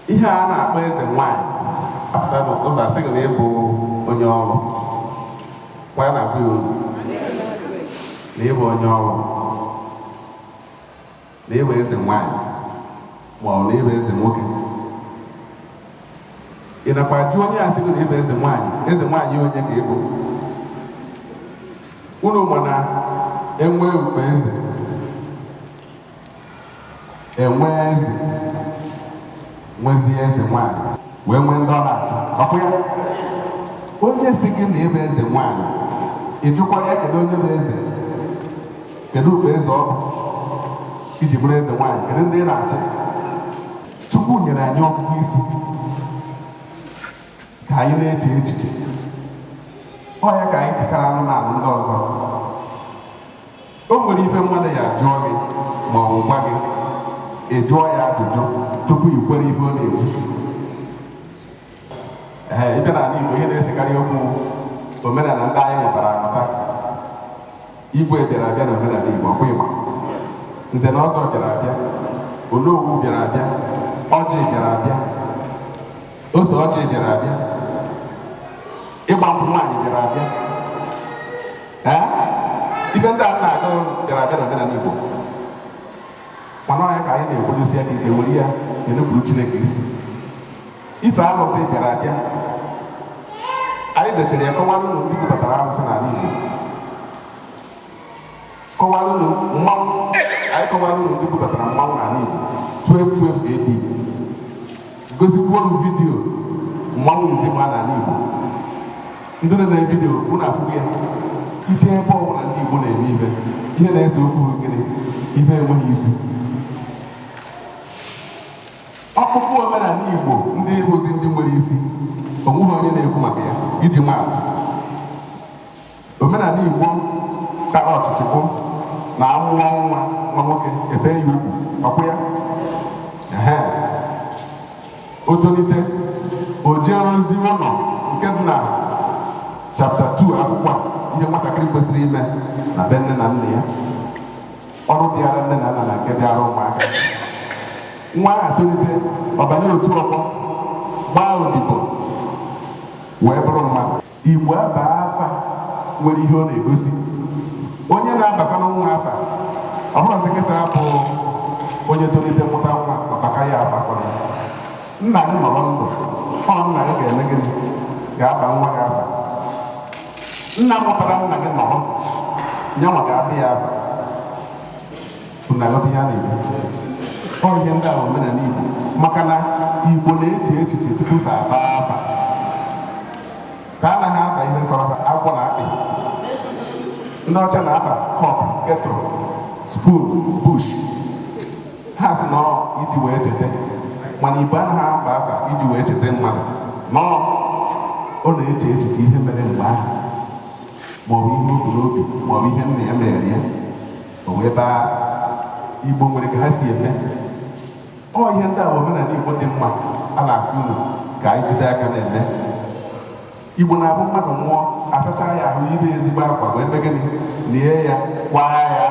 ihe a na-akpọ eze nwaanyị apụta n'ụzọ asị gị na ịbụ onye ọrụ kwa ya na-agwa ya unu na ịbụ onye ọrụ na ịbụ eze nwaanyị ma ọ bụ na ịbụ eze nwoke ị nakwa jụ onye asị gị na ịbụ eze nwaanyị eze nwaanyị onye ka ịbụ unu ma na enwe ukpo eze enwe eze nwezie eze nwanyị wee nwee ndị ọ na-achị ọkwa ya onye si gị na ịbụ eze nwanyị ị jụkwara ya kedu onye bụ eze kedu ukpo eze ọ bụ iji bụrụ eze nwanyị kedu ndị ị na-achị chukwu nyere anyị ọgụgụ isi ka anyị na-eche echiche ọ ya ka anyị ji kara anụmanụ ndị ọzọ O nwere ife mmadụ ya jụọ gị ma ọ bụ gwa gị ị jụọ ya ajụjụ tupu i kwere ife ọ na-ekwu ee ịbịa n'ala Igbo ihe na-esekarị okwu omenala ndị anyị mụtara amụta igwe bịara abịa na omenala Igbo ọkwa ịma nze na ọzọ bịara abịa onowu bịara abịa ọjị bịara abịa ose ọjị bịara abịa ịgba nkwụ nwaanyị bịara abịa ee ife ndị a na-agụ bịara abịa na omenala Igbo mana ọ nya ka anyị na-ekwedosi aka ike were ya enupụrụ Chineke isi ife arụsị bịara abịa anyị dechara ya kọwara unu ndị bubatara arụsị n'ala Igbo kọwara unu mmanwụ anyị kọwara unu ndị bubatara mmanwụ n'ala Igbo 1212 AD gosikwuo unu vidiyo mmanwụ izigba n'ala Igbo ndị nọ na vidiyo unu afụgo ya ije ebe ọbụla ndị Igbo na-eme ife ihe na-ese okwu bụ gịnị ife enweghị isi ọkpụkpụ omenala Igbo ndị bụzi ndị nwere isi onweghị onye na-ekwu maka ya iji maa atụ Omenala Igbo tara ọchịchị bụ na amụọ nwa nwa nwoke e bee ya ugwu ọkwụ ya ehe o tolite o jee ozi ụlọ nke dị na chapta 2 akwụkwọ a, ihe nwatakịrị kwesịrị ime na be nne na nna ya ọrụ dịara nne na nna na nke dịara ụmụaka nwa ahụ tolite ọ banye otu ọgbọ gbaa odibo wee bụrụ mmadụ Igbo abaa afa nwere ihe ọ na-egosi. Onye na-abakwanụ nwa afa, ọ bụrọzi kịta bụ onye tolite mụta nwa ọ baka ya afa sọ ya. Nna gị nọrọ ndụ, ọ nna gị ga-eme gịnị? Ga-aba nwa gị afa. Nna mụtara nna gị nọrọ, yanwa ga-aba ya afa. Unu na-aghọta ihe a na-ekwu? Ọ ihe ndị a bụ omenala Igbo maka na Igbo na-eche echiche tupu fa abaa afa fa anaghị aba ihe sọrọ fa agwọ na akpị ndị ọcha na-aba cup kettle spoon bush ha sị na ọ iji wee cheta mana Igbo anaghị aba afa iji wee cheta mmadụ no ọ na-eche echiche ihe mere mgbe ahụ maọbụ ihe o bu n'obi maọbụ ihe nna ya mere ya o wee baa igbo nwere ka ha si eme ọ ihe ndị a bụ omenala igbo dị mma a na-asị unu ka anyị jide aka na-eme igbo na-abụ mmadụ nwụọ a sachaa ya ahụ yibe ezigbo akwa wee mee gịnị lie ya kwaa ya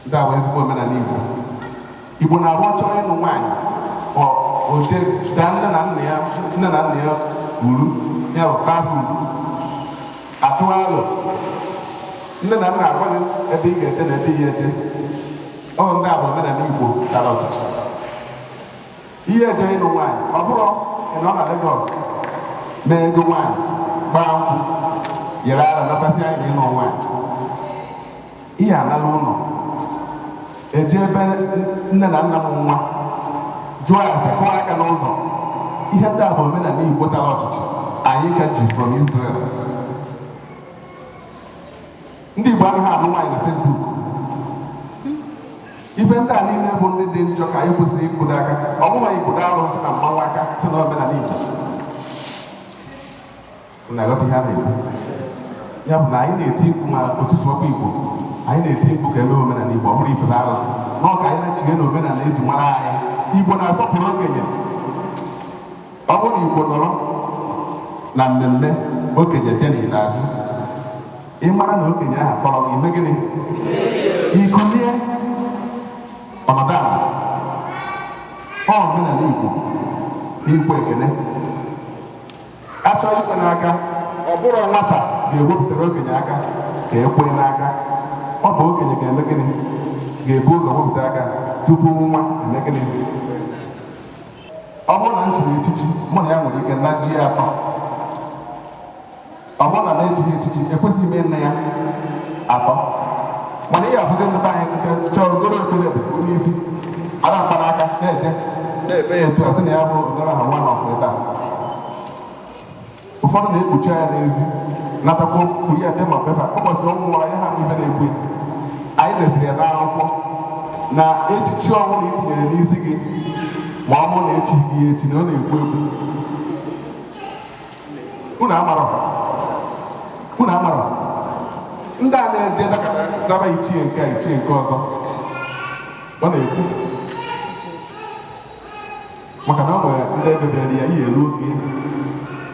ndị a bụ ezigbo omenala igbo Igbo na-abụ ọ chọọ ịnụ nwaanyị o jee daa nne na nna ya nne na nna ya uru ya bụ kpaa uru atụọ alo nne na nna agwa gị ebe ị ga-eje na ebe ị ya-eje ọ ndị a bụ omenala Igbo tara ọchịchị ị ya-eje ịnụ nwaanyị ọ bụrọ ịnọ na Lagos mee ego nwaanyị gbaa nkwụ yere ara nata sị anyị na ịnụ nwaanyị ihe alala ụlọ eje ebe nne na nna mụ nwa jụọ ase kụọ aka n'ụzọ ihe ndị a bụ omenala igbo tara ọchịchị anyị ka ji from Israel ndị igbo anaghị anụ nwaanyị na Facebook ife ndị a niile bụ ndị dị njọ ka anyị kwesịrị ịkwụdo aka ọ bụghị ịkwụdo arụsị na mmanwụ aka sị na omenala igbo Unu aghọta ihe a na-ekwu? Ya bụ na anyị na-eti mkpu ma otu sụwakwa Igbo, anyị na-eti mkpu ka e mee omenala Igbo, ọ bụrọ ifebe arụsị. No ka anyị nachigha na omenala e ji mara anyị. Igbo na-asọpụrụ okenye. Ọ bụrụ na Igbo nọrọ na mmemme okenye bịa n'ikpeazụ, ị mara na okenye ahụ tọrọ gị i mee gịnị? I kulie ọ nọdụ ala. Ọ omenala Igbo n'ikwe ekene. a chọọ ikwe n'aka ọ bụrọ nwata ga-ewepụtara okenye aka ka e kwee n'aka ọ bụ okenye ga-eme gịnị ga-ebu ụzọ wepụta aka tupu nwa eme gịnị ọ bụrụ na m chiri echichi mụ na ya nwere ike najie atọ ọ bụrụ na m echighị echichi ekwesịghị m ịna ya atọ mana ihe a fụzi ndị be anyị nke chọọ o goro okpu red kpunye n'isi ara mkpanaka na-eje na-ebe ya etu a sị na ya bụ ogoro ha nwa n'ọfụ ebe a ụfọdụ na-ekpuchi anya n'ezi natakwa kpuru ya dị ma be fa ọ kwesịrị ọnwụ nwara ya ha na ibe na-egbu ya anyị desịrị ya n'akwụkwọ na echichi ọbụna i tinyere n'isi gị ma ọ bụrụ na e chighị gị echi na ọ na-egbu egbu unu amara unu amara ndị a na-eje zaba ichie nke a ichie nke ọzọ ọ na-ekwu maka na ọ nwere ndị ebebere ya ihe eruo oge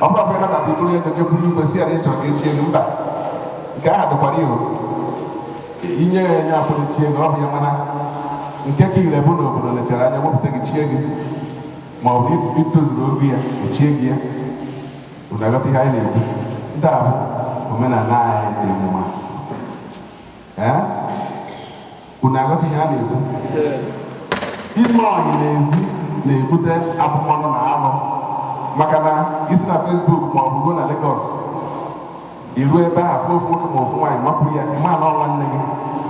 ọ bụrụ ọbụla nabata iburu ego jekwuru igwe sị ya na ị chọrọ ka e chie gị mba nke ahụ dịkwara ihu inye ya enye akpọrọ chie gị ọ bụ ya mana nke ka ile bụ na obodo lechara anya wepụta gị chie gị ma ọ bụ itozuru oge ya e chie gị ya unu aghọta ihe anyị na-ekwu ndị a bụ omenala anyị dị mma ee unu aghọta ihe a na-ekwu ime ọyị n'ezi na-ebute abụmọnụ na alụ maka na i si na Facebook ma ọ bụ ruo na Lagos i ruo ebe ahụ fụ ofu nwoke ma ofu nwaanyị makụrụ ya ma na ọ nwanne gị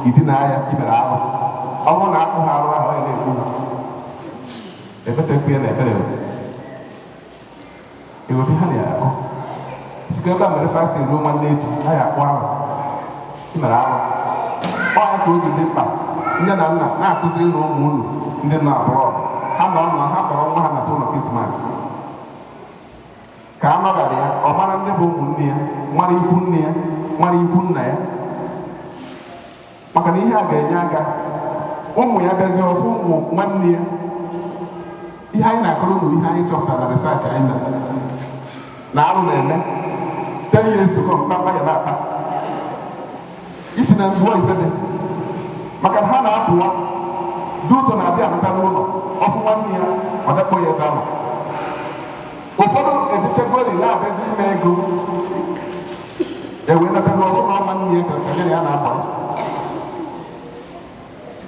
i dina ya i mere alụ ọ bụrụ na akpụ ha arụ ahụ ọ ya na-ekwu ebetekwu ya na ebere eweta ha na-akụ site ebe a mere fasting ruo nwanne echi ha ya akpụ arụ i mere ahụ ọ ya ka o ji dị mkpa nne na nna na-akụzirinụ ụmụ unu ndị nọ abroad nọ nọ ha kpọrọ nwa ha nata ụlọ krismas ka a nọbara ya ọ mara ndị bụ ụmụnne ya mara ikwu nne ya mara ikwu nna ya maka na ihe a ga-enye aka ụmụ ya bịazie ọ fụ ụmụ nwanne ya ihe anyị na-akọrọ unu ihe anyị chọpụtara na research anyị mere na arụ na-eme 10 years to come mkpamkpa ya na-akpa itinye ngwa ife dị maka na ha na-apụwa dị ụtọ na-adị anata n'ụlọ ọ fụ nwanne ya ọ dakpo ya ebe ahụ ụfọdụ ejechegori na-agazi ime ego e wee mata na ọ bụrụ nwanne ya ka ka ya na ya na-akpa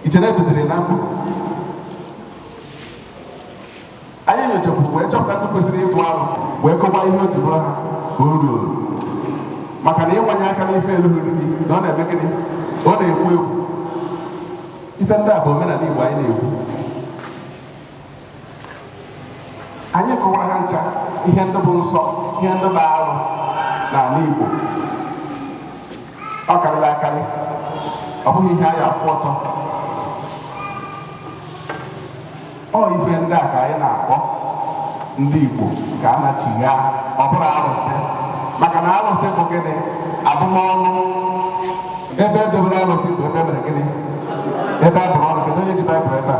ichere etetere na mkpụrụ anyị nyochapụrụ wee chọpụta ndị kwesịrị ịbụ arụ wee kọwaa ihe o ji bụrụ ha arụ maka na ịwanye aka n'ife elughị gị na ọ na-eme gịnị ọ na-egbu egbu ife ndị a bụ omenala igbo anyị na-ekwu anyị kọwara ha ncha ihe ndị bụ nsọ ihe ndị bụ arụ n'ala Igbo ọ karịrị akarị ọ bụghị ihe anyị akwụ ọtọ ọ ife ndị a ka anyị na-akọ ndị Igbo ka a nachigha ọ bụrọ arụsị maka na arụsị bụ gịnị abụmọnụ ebe edobere arụsị bụ ebe e mere gịnị ebe a bụrụ ọnụ kedu onye ji baịbụl ebe a